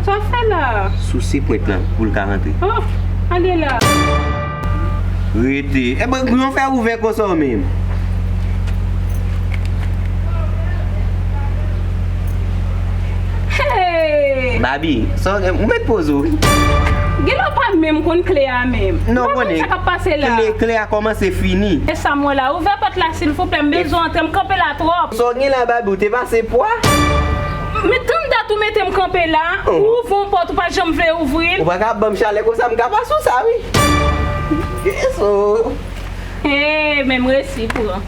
Sa wap fè la? Souse pwent lan pou l ka rantre. Ouf! Ale la! Rete. E bon, yon fè ouvè konsa w menm? Hey! Babi, sa w gen? Ou met poz ou wi. Gen lè w pa menm konn kle a menm. Ou pa konn sa kap pase la. Non konnen, kle a kòmanse fini. E sa m wè la? Ouvè pòt la silvouplè, m bezwen antre, m kanpe la twòp. Sa w gen la Babi, w te pase pwa? Men tann dat ou mete m kanpe la, ou ouvri yon pòt ou pa janm vle ouvri l. Ou pa ka ap ban m chalè konsa, m ka pa sou sa wi. Hee men m resi pran.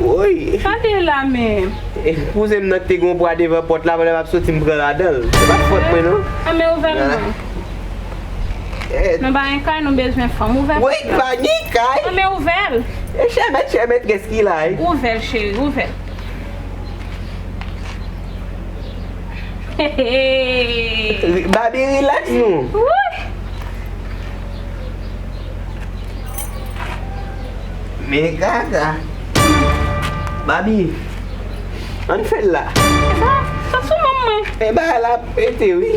Woy. Sa te la menm. Kouzen m nan ki te gen yon pwa devan pòt la, lè m ap soti m pran ladan l. Se pa t fòt mwen non. Fèmen ouvè l non. Nou ba yon kay nou bezwen fanm ouvè pòt la. Woy ba ni kay. An men ouvèl. E chè mèt chè mètrès ki la wi. Ouvèl cheri ouvèl. Heheeee. Babi relax nou. Wouyy. Men kaka. Babi. An fèl la. Eba sa sou moun mwen. Eba la pete wi.